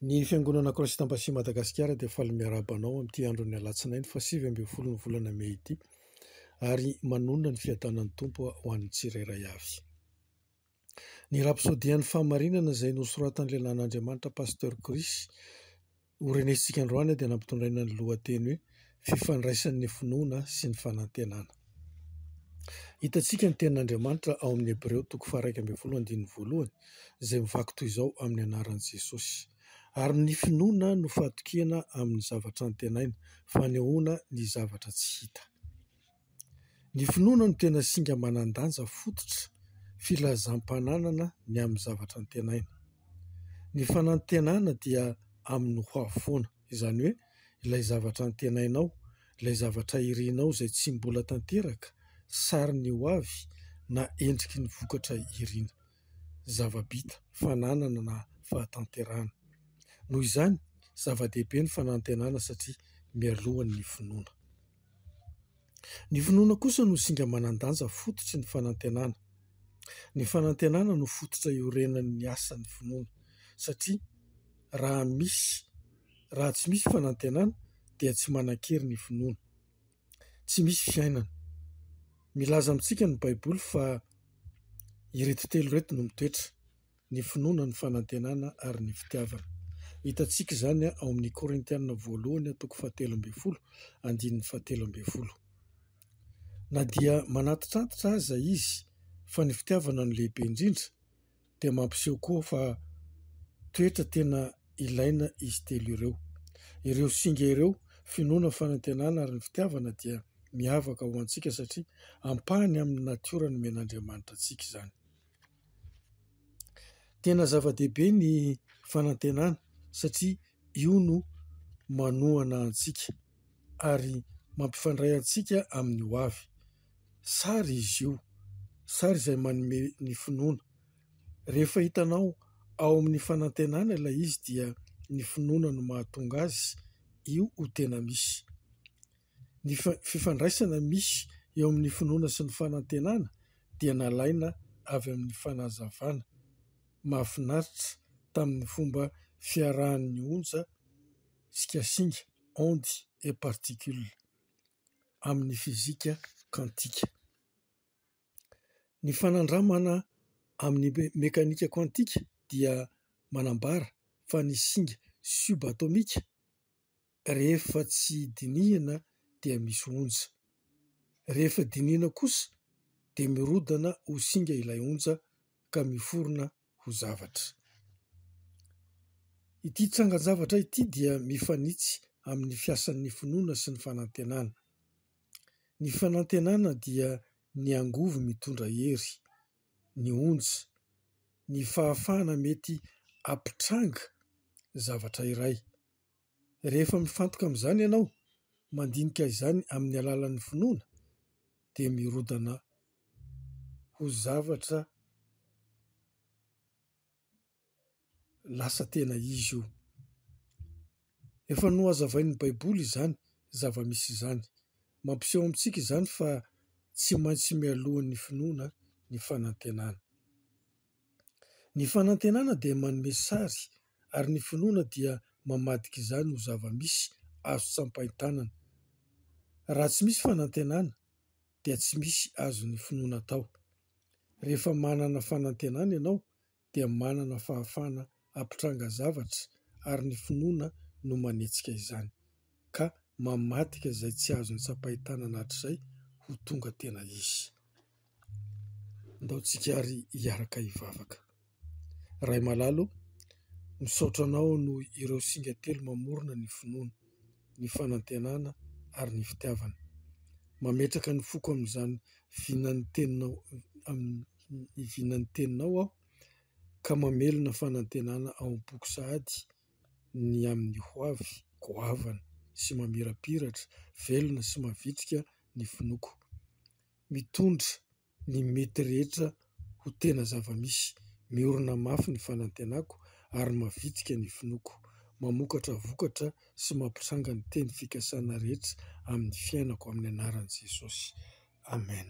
Ny Fiangonana Croisite Ampasia Madagasikara dia faly miarahaba anao amin'ity andron'ny Alatsinainy fahasivy ambin'ny folon'ny volana mey ity ary manonona ny fiadanan'ny Tompo ho an'ny tsirairay avy. Ny rapsôdian'ny fahamarinana izay nosoratan'ny lehilahin'Andriamanitra Pasteur Chris Ho renesintsika androany dia nampitondraina ny lohateny hoe Fifandraisan'ny finoana sy ny fanantenana. Hitantsika ny tenin'Andriamanitra ao amin'ny Hebreo toko faha-iraika ambin'ny folo andininy voalohany izay mivaky toy izao amin'ny anaran'i Jesosy. Ary ny finoana no fahatokiana amin'ny zavatra antenaina, fanehoana ny zavatra tsy hita. Ny finoana no tena singa manan-danja fototra filazam-pananana ny amin'ny zavatra antenaina. Ny fanantenana dia amin'ny ho avy foana, izany hoe ilay zavatra antenainao, ilay zavatra irinao izay tsy mbola tanteraka, sarin'ny ho avy na endriky ny vokatra irina, zava-bita, fananana na fahatanterahana. Noho izany, zava-dehibe ny fanantenana satria mialoha ny finoana. Ny finoana kosa no singa manan-danja fototry ny fanantenana. Ny fanantenana no fototra iorenan'ny asan'ny finoana satria raha misy raha tsy misy fanantenana dia tsy manan-kery ny finoana, tsy misy fiainana. Milaza amintsika ny baiboly fa ireto telo ireto no mitoetra. ny finoana, ny fanantenana ary ny fitiavana. Hitantsika izany ao amin'ny Korintiana voalohany toko fahatelo ambin'ny folo andininy fahatelo ambin'ny folo. Na dia manantitrantitra aza izy fa ny fitiavana no lehibe indrindra dia mampiseho koa fa toetra tena ilaina izy telo ireo. Ireo singa ireo, finoana, fanantenana ary ny fitiavana dia miavaka ho antsika satria ampahany amin'ny natiora nomen'Andriamanitra antsika izany. Tena zava-dehibe ny fanantenana satria io no manohana antsika ary mampifandray antsika amin'ny ho avy. Sary izy io, sary izay manome ny finoana. Rehefa hitanao ao amin'ny fanantenana ilay izy dia ny finoana no mahatonga azy io ho tena misy. Ny fifandraisana misy eo amin'ny finoana sy ny fanantenana dia nalaina avy amin'ny fanazavana mahafinaritra tamin'ny fomba fiarahan'ny onja sy kasinga, ondes et particules, amin'ny fizika kantika. Ny fanandramana amin'ny mekanika kantika dia manambara fa ny singa subatomika, Rehefa tsy dinihina dia misy onja. Rehefa dinihina kosa dia mirodana ho singa ilay onja ka miforona ho zavatra. Ity tsangan-javatra ity dia mifanitsy amin'ny fiasan'ny finoana sy ny fanantenana. Ny fanantenana dia ny angovo mitondra hery, ny onja, ny fahafahana mety hampitranga zavatra iray. Rehefa mifantoka amin'izany ianao, mandinika izany amin'ny alalan'ny finoana, dia mirodana ho zavatra lasa tena izy io. Efa nohazavain'ny Baiboly izany zava-misy izany. Mampiseho amintsika izany fa tsy maintsy mialoha ny finoana ny fanantenana. Ny fanantenana dia manome sary ary ny finoana dia mamadika izany ho zava-misy azo tsapain-tanana. Raha tsy misy fanantenana dia tsy misy azon'ny finoana atao. Rehefa manana fanantenana ianao dia manana fahafahana. hampitranga zavatra ary ny finoana no manetsika izany ka mamadika izay tsy azony tsapain-tanana hatrizay ho tonga tena izy. Ndaontsika ary hiaraka hivavaka. Ray malala o, misaotra anao noho ireo singa telo mamorona ny finoana, ny fanantenana ary ny fitiavana. Mametraka ny foko amin'izany vinan'ny teninao, amin'ny vinan'ny teninao aho. ka mamelona fanantenana ao am-poko sahady ny amin'ny hoavy goavana sy mamirapiratra, velona sy mavitrika ny finoako. Mitondra ny mety rehetra ho tena zava-misy, miorina mafy ny fanantenako ary mavitrika ny finoako, mamokatra vokatra sy mampitranga ny teny fikasana rehetra amin'ny fiainako amin'ny anaran'i Jesosy, Amen.